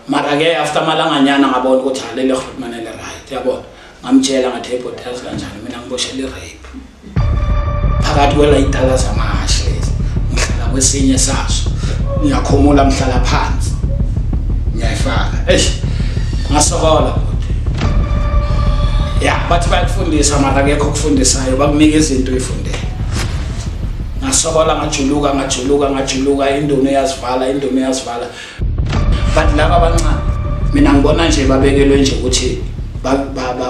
mara ke after amalanganyana ngabona ukuthi halele rhutmane le right yabona ngamtshela ngathi hey bhuti yazi kanjani mina ngiboshele i-rape phakathi kwelayitala zamahashe lezi ngihlala kwesinye saso ngiyakhumula ngihlala phansi ngiyayifaka eish ngasokola ya bathi bayakufundisa mara kekho okufundisayo bakunika izinto uyifundele ngasokola ngajuluka ngajuluka ngajuluka indunu yazivala indunu yazivala but laba abancane mina ngibona nje babekelwe nje ukuthi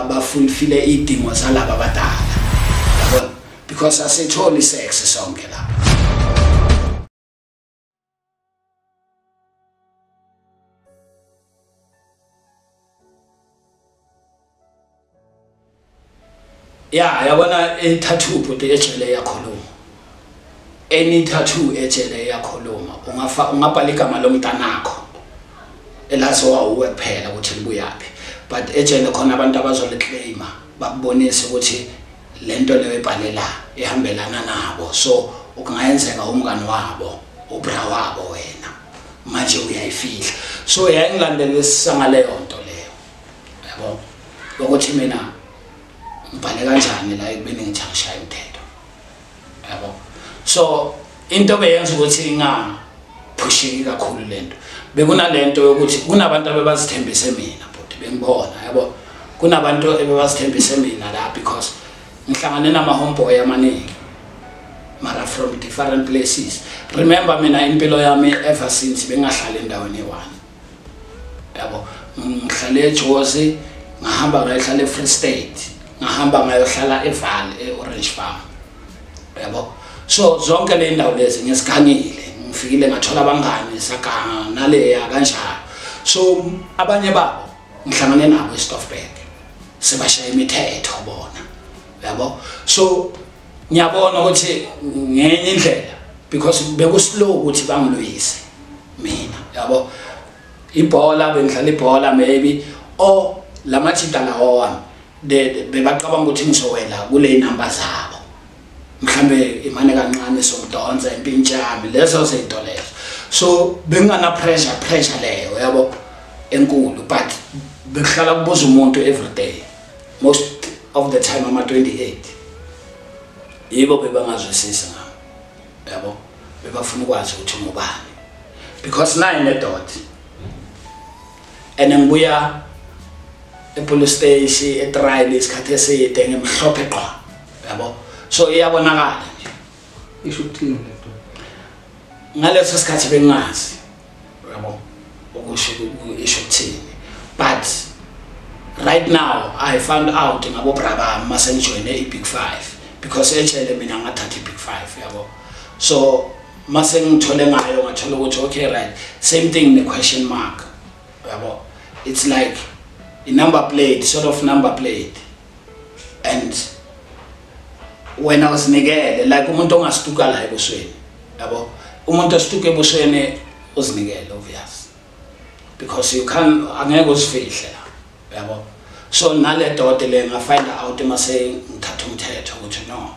bafulfile iy'dingo zalaba abadala yabona because asitholi sex sonke lapha ya yabona ithathu ubhuti ejele yakhuluma any tattoo ejele yakhuluma ungafa ungabhala igama lomntanakho elaziwa uwe kuphela ukuthi libuyaphi but ejele khona abantu abazoliclaima bakubonise ukuthi le nto leyo ebhalela ihambelana nabo so ukungayenzeka umngani wabo ubra wabo wena manje uyayifihla so yayingilandelisisa ngaleyo nto leyo yabo ukuthi mina ngibhale kanjani la ekubeni ngithi angishaya umthetho yabo so into beyenza ukuthi ingaphusheki kakhulu le nto bekunale nto yokuthi kunabantu abebazithembise mina bhuti bengibona yabo kunabantu ebebazithembise mina la because ngihlangane nama-homeboy amaningi mara from different places remember mina impilo yami ever since bengahlali endaweni eyi-one yabo ngihlale ejozi ngahamba ngayohlala e-free state ngahamba ngayohlala eval e-orange farm yabo so zonke le ndawo lezi ngizikhangile ngifikile ngathola abangani saganga naleya kanjalo so abanye babo ngihlangane nabo eStoffberg sebashaya imithetho bona yabo so ngiyabona ukuthi ngenye indlela because bekuslow ukuthi bangilwise mina yabo ibhola bengidlala ibhola maybe o lamathita lawa bebacabanga ukuthi ngizowela kule number zabo mhlambe imane kancane somdonsa impintshami lezo zinto lezo so bengana pressure pressure leyo yabo enkulu but bekuhlala kubuza umuntu every day most of the time ama 28 yibo bebangazwisisi ngam yabo bebafuna ukwazi ukuthi ngubani because naye nedot and ngibuya epolice station etrial isikhathi eside ngimhlophe qwa yabo so iyabonakala nje isho ukuthini lento ngaleso sikhathi bengazi yabo ukusho isho ukuthini but right now i found out ngabo bra bami mase ngijoyine i-big five because etshele mina ngathatha i-big five yabo so mase ngithole ngayo ngathola ukuthi okay right same thing ne-question mark yabo it's like i-number plate sort of number plate and wena uzinikele like umuntu ongastuka la ebusweni yabo umuntu ostuka ebusweni uzinikele obvious because you can angeke usifihle la yabo so nale dote le nga find out mase ngithatha umthetho ukuthi no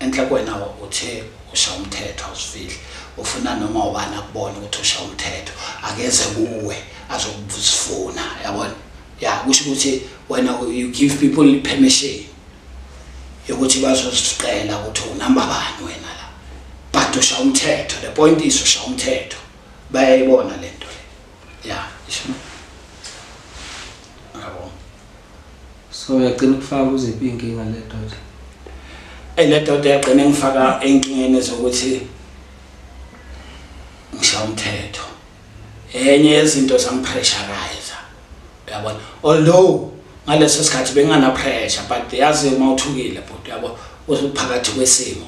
Enhle kwena uthe usha umthetho awusifihle ufuna noma ubani akubone ukuthi usha umthetho akeze kuwe azokuzifuna yabona ya kusho ukuthi wena you give people permission yokuthi bazoziqela ukuthi unamba bani wena la but usha umthetho the point is usha umthetho bayayibona lento le ya isho so uyagcina ukufaka kuziphi iy'nkinga le doda eyi le doda yagcina engifaka ey'nkingeni zokuthi ngisha umthetho enye yezinto zangipressurize uyabona although ngaleso sikhathi benginganapressure but yazi uma uthukile bhuti uyabo uphakathi kwesimo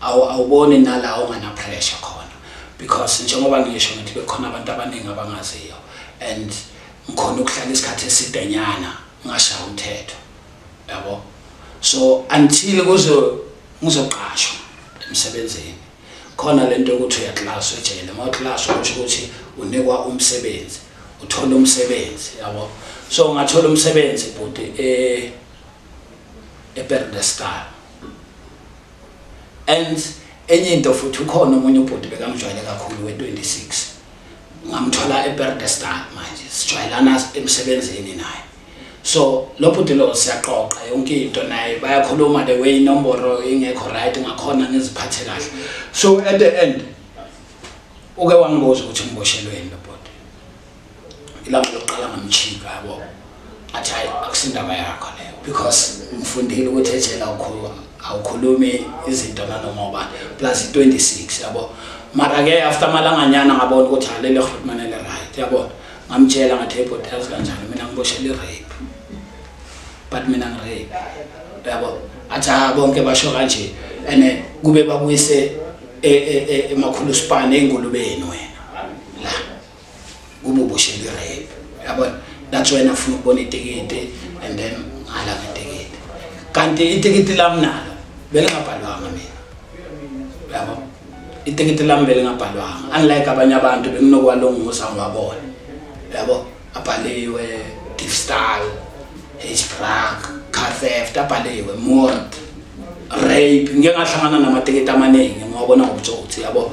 awuboni nala onganapressure khona because njengoba ngisho ngithi bekhona abantu abaningi abangaziyo and ngikhona ukuhlala isikhathi esidenyana ngashaya umthetho yabo so until kuzo ngizoqashwa emsebenzini khona lento ukuthi uyaklaswa ejele uma uklaswa kusho ukuthi unikwa umsebenzi uthola umsebenzi yabo so ungathola umsebenzi bhuti eh eBerdestal and enye into futhi ukhona omunye ubhuti bekamjwayele kakhulu we26 ngamthola eBerdestal manje sijwayelana emsebenzini naye so lo bhuti lo siyaqoqa yonke into naye bayakhuluma the way inomboro ingekho right ngakhona ngiziphathe kahle so at the end uke wangibuza ukuthi ngiboshelweni lo bhuti ilanga lokuqala ngamchika yabo athi hayi akusindaba yakho leyo because ngifundile ukuthi ejela awukhulumi izinto nanoma ubani plus i-26 yabo mara-ke after amalanganyana ngabona ukuthi halele rhulumane li-right yabona ngamtshela ngathi ebhoti yazi kanjani mina ngiboshela i-rape but mina ngirape yabo athi ha bonke basho kanje and kube babuyise e, e, e, emakhulu span engulubeni wena kube uboshelwe rape yabona that's why nafuna ukubona itikiti and then ngala ngetikiti kanti itikiti lami nalo belingabhalwanga mina yabo itikiti lami belingabhalwanga unlike abanye abantu benginokwalunguza ngiwabona yabo abhaliwe difstal hsprack car theft abhaliwe mort rape ngike ngahlangana namatikiti amaningi ngiwabona ngobutsotsi yabo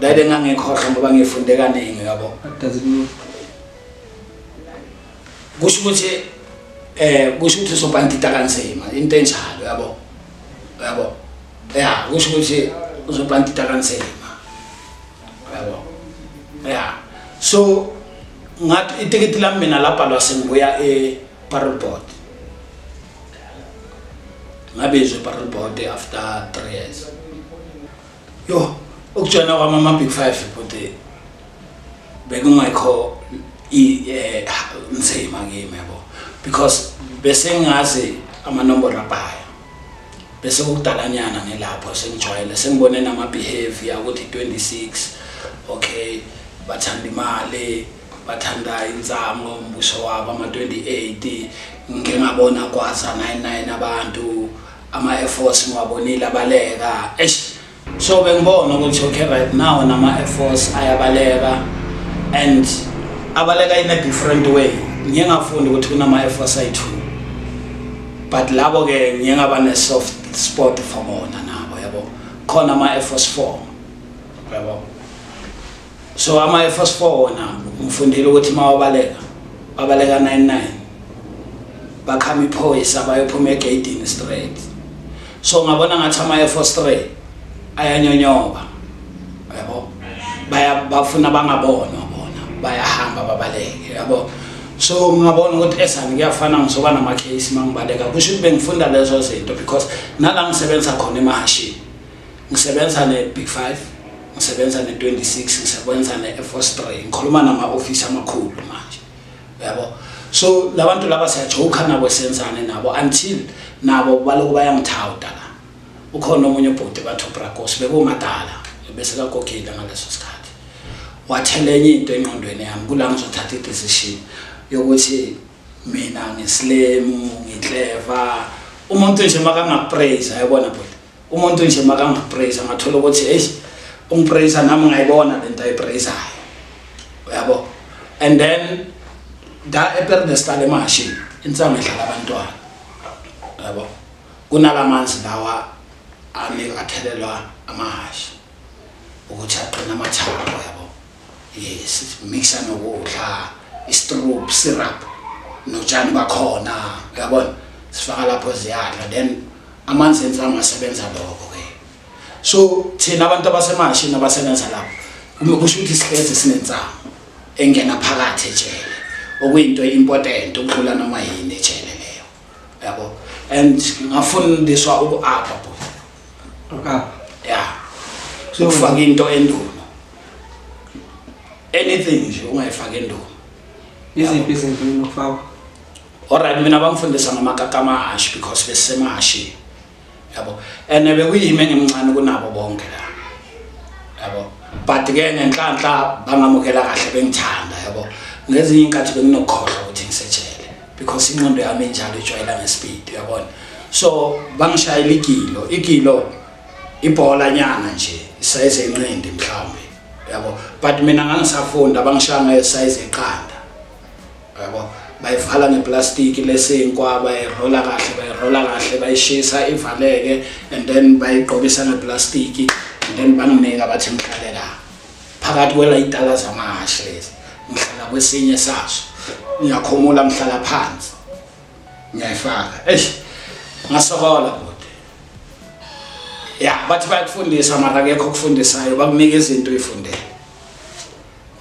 Dade ngangekhohlwa ngoba ngifunde kaningi yabo. What does it mean? Kusho ukuthi eh kusho ukuthi usobhantita kanzima into enjalo yabo. Yabo. Yeah, kusho ukuthi usobhantita kanzima. Yabo. Yeah. So ngathi itikiti lami mina labhalwa sengibuya e parole board. Ngabe izwe parole board after 3 years. yo ukujona kwami ama-big five bhuti bekungekho eh, nzima kimi yabo because bese ngazi amanombolo abhayo bese kukudalanyana ngilapho sengijwayele sengibone nama-behavior ukuthi 26 okay bathanda imali bathanda insango umbuso wabo ama-28 ngingabona kwaza 99 abantu ama Air Force ngiwabonile abaleka eish so bengibona ukuthi okay right now nama Air Force ayabaleka and abaleka in a different way ngiye ngafunda ukuthi kunama Air Force ayi two but labo ke ngiye ngaba ne soft spot for bona nabo yabo khona ama Air Force 4 yabo so ama efos 4 wona ngifundile ukuthi mawabaleka babaleka 99 bakhama iphoyisa bayophuma egeyidini straight so ngabona ngathi ama efos 3 ayanyonyoba yabo baya bafuna bangabona bona bayahamba babaleke yabo so ngingabona ukuthi esani kuyafana ngizoba nama-case uma ngibaleka kusho ukuthi bengifunda lezo zinto because nala ngisebenza khona emahashini ngisebenza ne-big five ngisebenza ne-26 ngisebenza ne-air force three ngikhuluma nama-ofisi amakhulu manje uyabo so labantu laba siyajoka nabo senzane nabo until nabo baloku bayangithawuda la ukhona omunye ubhuti bathi ubracos bekumadala bese kakogile ngaleso sikhathi wathela enye into engqondweni yami kula ngizothatha i-decision yokuthi mina ngisilemu ngikleva umuntu nje makangapraise ayibona bhuti umuntu nje makangapraise angathola ukuthi hey ungipraise nami ngayibona lento ayipraisayo uyabo and then da eperdestal emashi insangu edlala abantwana uyabo kunalamanzi lawa ami athelelwa amahashi ukuthi aqina amathanga uyabo yes mixa nokudla istrop syrup notshani bakhona uyabona sifaka lapho ziyadla then amanzi ensama asebenza lokho ke so thina abantu abasemashini abasebenza lapho uma kusho ukuthi sihlezi sinensama engena phakathi ejele okuyinto important ukudlula noma yini ejele yabo and ngafundiswa uku-apa bo uku-apa ya sokufaka into endulo anything nje ungayifaki endulo iziphi izinto mina ukufakwa alright mina bangifundisa ngamakakamahashi because besemahashini yabo and bekuyimi engimncane kunabo bonke la yabo but ke ngenhlanhla bangamukela kahle bengithanda yabo ngezinye inkathi benginokhohlwa ukuthi ngisejele because inqondo yami enjalo ijwayela ngespeed uyabona so bangishayela igilo igilo ibhola nyana nje isayize enqindi mhlawumbe yabo but mina ngangisafunda bangishaya ngesize eqanda yabo bayivala ngeplastiki lesinkwa bayirola kahle bayirola kahle bayishisa ivaleke and then bayigqokisa ngeplastiki and then banginika bathi ngihlale la phakathi kwelayitala zamahashe lezi ngihlala kwesinye saso ngiyakhumula ngihlala phansi ngiyayifaka eish ngasokola kude ya bathi bayakufundisa mara akekho okufundisayo bakunika izinto uyifundele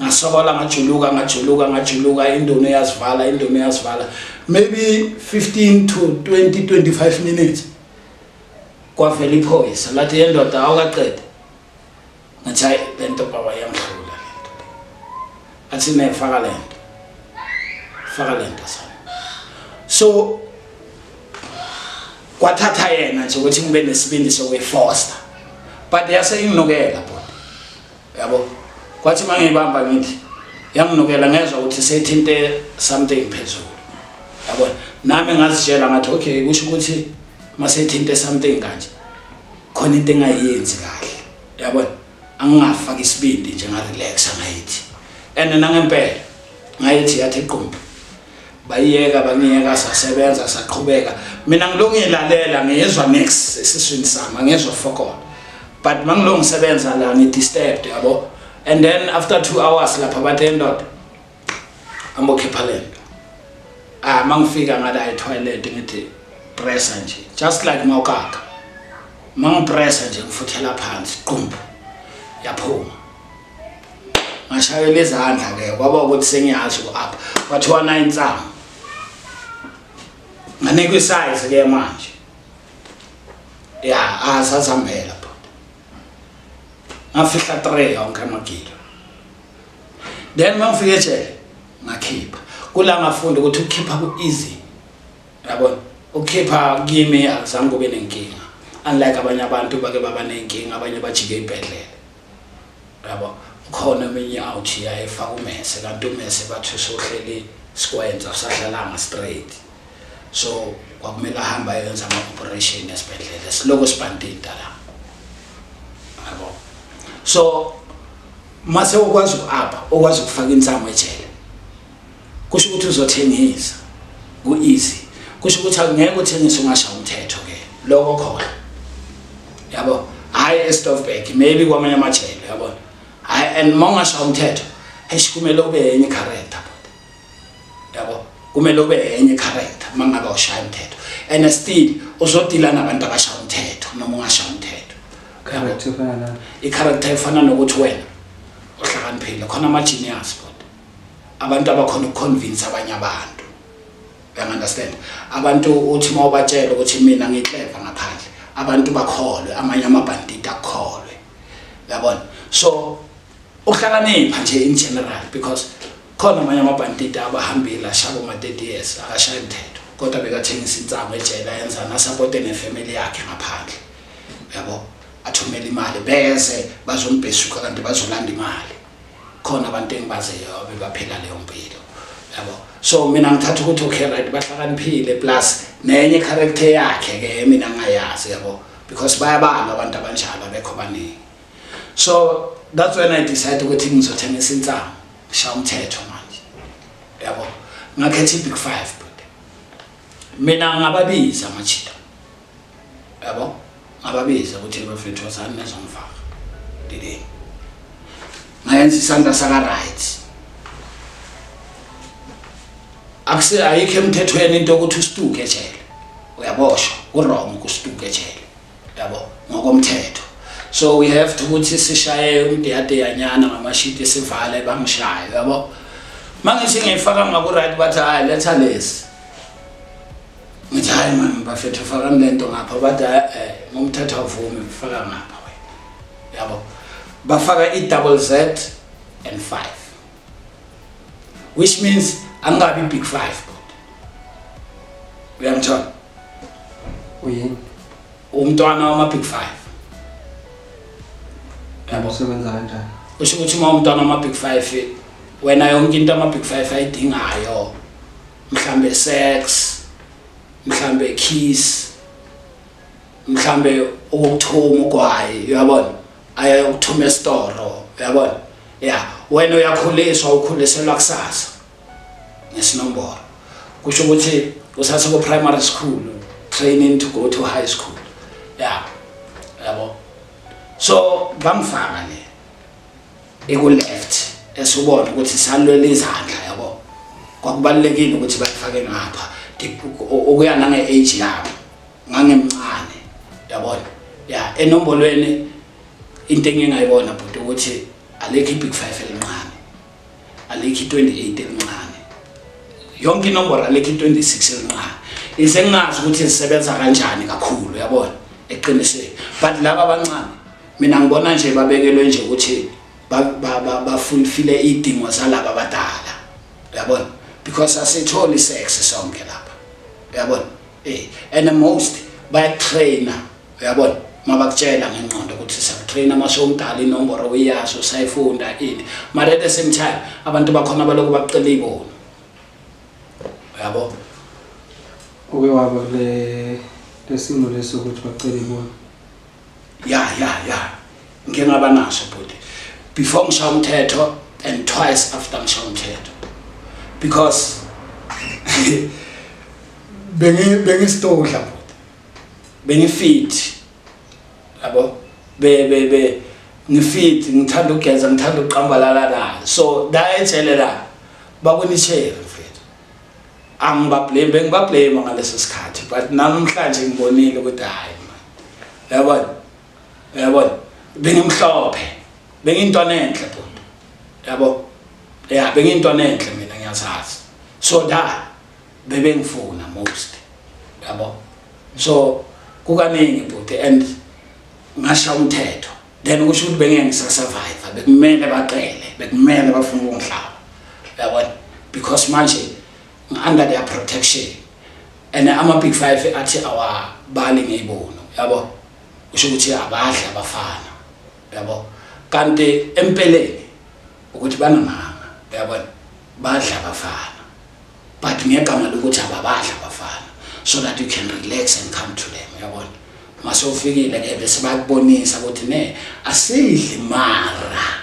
ngasokola ngajuluka ngajuluka ngajuluka indono yazivala indono yazivala maybe 15 to 20 25 minutes kwavela iphoyisa lathi yendoda awukaqede ngathi hayi le nto baba yamhlula le nto athi ne faka le nto faka le nto sana so kwathatha yena nje ukuthi ngibe nesibindi sokuyifosta but yase inginukela yabo kwathi uma ngiyibamba ngithi yanginukela ngezwa ukuthi sethinte something phezulu yabona nami ngazitshela ngathi okay kusho ukuthi uma sethinte something kanje khona into engayenzi kahle yabona angingafaki isibindi nje ngarelaxa ngayithi and nangempela ngayithi yathi qumbu bayiyeka bangiyeka sasebenza saqhubeka mina ngilokhu ngilalela ngiyezwa next esiswini sami angiyezwa fokona but mangilokhu ngisebenza la ngidisturbed yabo and then after two hours lapha bathe indoda ambokhipha le nto ah mangifika ngala etoilet ngithi pressa nje just like mawukaka mangipressa nje ngifuthela phansi qumbu yaphuma ngashayela izandla ke kwaba ukuthi sengiyazi ku-up kwathiwa nayo insama nganikwa isize ke manje ya asazihambela ah, bhuti ngafihla three yonke amagilo then uma ngifike ejele ngakhipha kula ngafunda ukuthi ukukhipha ku-easy yabona ukukhipha kimi akuzange kube nenkinga unlike abanye abantu bake baba nenkinga abanye bajike ibhedlela yabo khona eminye awuthi yayefaka umese kanti umese bathi usohleli sikwenza usahlalanga straight so kwakumele ahambe ayenza ama-operation esibhedlela siloko sibhandida la yabo so mase ukwazi uku-apha ukwazi ukufaka insango ejele kusho ukuthi uzothengisa ku-easy kusho ukuthi akungeke uthengise ungasha umthetho ke lokho khona yabo hhayi estofbek maybe kwamanye amajele yabona hhayi and uma ungasha umthetho eish kumele ube yenye icharacter bota yabo kumele ube yenye icharacter uma ngabe ushaya umthetho and still uzodila nabantu abasha umthetho noma ungasha umthetho icharacter efana nokuthi wena uhlakaniphile khona ama-genius bota abantu abakhona ukuconvince abanye abantu uyang understand abantu uthi uma ubatshela ukuthi mina ngikleva ngaphandle abantu bakholwe amanye amabhandida akholwe uyabona so uhlakanipha nje in general because khona amanye amabhandida abahambile ashabo ma-30 years akashaye mthetho kodwa bekathengisa insango ejela yenza nasapote nefamily yakhe ngaphandle uyabo athumele imali beze bazombhesuka kanti bazolanda imali khona abantu engibaziyo abebaphila leyo mpilo yabo so mina ngithatha ukuthi okay right bahlakaniphile plus nenye character yakhe ke mina ngayazi yabo because bayabanga abantu abanjalo abekho baningi so that's when i decide ukuthi ngizothengisa insangu ngisha umthetho manje yabo ngakhetha i-big five mina ngababiza amachita yabo ababize ukuthi bafethu wazani nezomfaka didini ngayenza isandla saka-right akuse ayikho emthethweni into yokuthi usituke ejele uyaboshwa kurong ukustuke ejele yabo ngokomthetho so we have to ukuthi sishaye umdeyadeyanyana ngamashiti sivale bangishaye yabo mangithi ngiyifaka ngaku-right bathi hayi letha lesi ngithi hayi mani bafethu fakani le nto ngapha bathi eh, eh, ngomthetho avume faka ngapha wena yabo bafaka i-double z and five which means angingabi big five kodwa uyamthola uyini umntwana wama-big five yabo usebenza kanjani usho ukuthi uma umntwana wama-big five wena yonke into ama-big five ayidingayo mhlambe sex mhlambe kiss mhlambe ukuthuma ugwayi uyabona ayokuthuma esitoro uyabona ya wena uyakhuliswa ukhuliselwa kusasa ngesinombolo kusho ukuthi usase ku primary school training to go to high school ya yabo so bamfaka le iku left esubona ukuthi salwela izandla yabo kwakubalekile ukuthi bafake ngapha ukuya nange age yabo ngangemncane yabona ya enombolweni into engingayibona bhuti ukuthi alekho ibig 5 elincane alikho i-28 elincane yonke inomboro alikho i-26 elincane ize ngingazi ukuthi zisebenza kanjani kakhulu yabona eqinisweni but laba abancane mina ngibona nje babekelwe nje ukuthi bafulfile iy'dingo zalaba abadala yabona because asitholi isex sonke lapha yabona um and most bayatraina uyabona uma bakutshela ngengqondo ukuthi siyakutraina uma sewumdala inomboro uyazi usayifunda ini mara at the same time abantu bakhona balokhu bakucela iy'boni uyabo uke waba kule lesimo leso ukuthi bacela iy'boni ya ya ya ngike ngaba naso bhuti before ngishaya umthetho and twice after ngishaya umthetho because bengi bengi stole bengi-fit yabo ngi-fit ngithanda ukugeza ngithanda ukuqambalala la so dayetshele la bakunitshele mfethu angibablame bengibablame ngaleso sikhathi but namhlanje ngibonile ukuthi hhayi yabona yabona bengimhlophe bengiyintwana enhle bhuti yabo ya bengiyintwana enhle mina ngiyazazi so da bebengifuna most yabo so kukaningi bhuti and ngasha umthetho then kusho ukuthi bengeke ngisasurvive bekumele baqele bekumele bafuna ukungihlaba yabona because manje ngi-under their protection and ama-big five athi awabali ngeyibonu yabo kusho ukuthi abadli abafana yabo kanti empeleni ukuthi banamanga yabona badla abafana but ngegama lokuthi ababadla abafana so that you can relax and come to them uyabona mase ufikile ke bese bakubonisa ukuthi ne asidli mara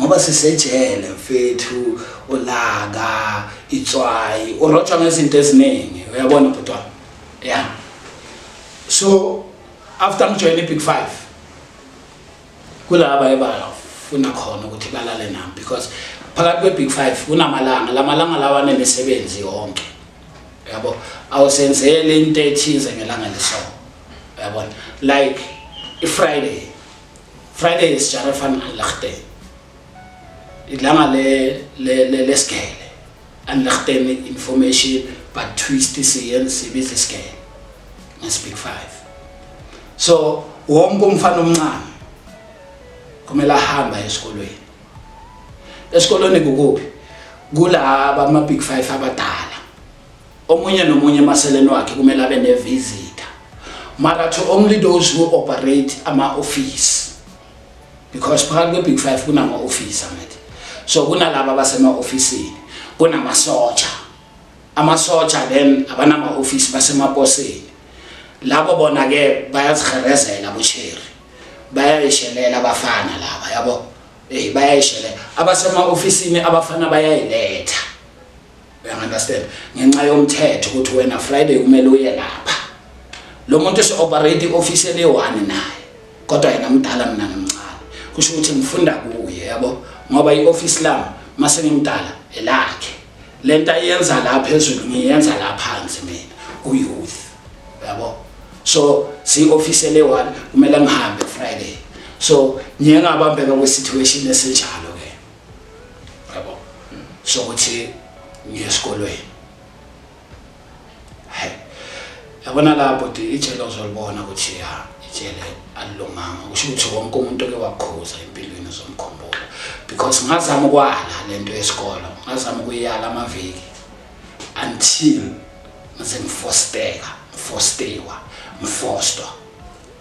ngoba sisejele mfethu ulaka itswayi urotshwa ngezinto eziningi uyabona bhuti wami ya so after ngijoyine i-big five kulaba ebafuna khona ukuthi balale nami because phakathi kwe-big five kunamalanga la malanga lawa anemisebenzi yonke yabo awusenzele into ethize ngelanga leso yabona like i-friday friday is jarefan alahte ilanga lesigele le, le, le Anlachtene information but twist siyen sibizi scale. Na speak 5. So wonke umfana omncane kumele ahamba esikolweni. Esikolweni kukuphi? Kulaba ama big 5 abadala. Omunye nomunye emaseleni wakhe kumele abe ne visitor. Mara to only those who operate ama office because phakathi kwe-big five kunama-ofisi angithi so kunalaba abasema-ofisini kunamasotsha amasotsha then abanama-ofisi basemaposini labo bona-ke bayaziherezela bosheri bayayishelela abafana laba yabo eyi bayayishelela abasema-ofisini abafana bayayiletha uyangunderstand ngenxa yomthetho ukuthi wena friday kumele uye lapha lo muntu usi-operate i-ofisi eliyi-one naye kodwa yena mdala mina ngimncane kusho ukuthi ngifunda kuye yabo ngoba i-ofisi lami uma sengimdala elakhe le nto ayenza la phezulu ngiyenza la phansi mina uyouth yabo so siyi-ofisi eliyi-one kumele ngihambe friday so ngiye ngabambeka kwisituation esinjalo yabo sokuthi ngiye esikolweni yabona lapho ti ijele uzolibona ukuthi ya ijele alilunganga kusho ukuthi wonke umuntu oke wakhuza empilweni uzomkhumbula because ngazama ukwala le nto yesikolo ngazama ukuyala amaviki until ngize ngifosteka ngifostewa ngifostwa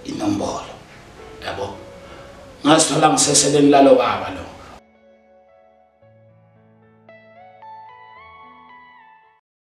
inombolo yabo ngazithola ngiseseleni lalo baba lo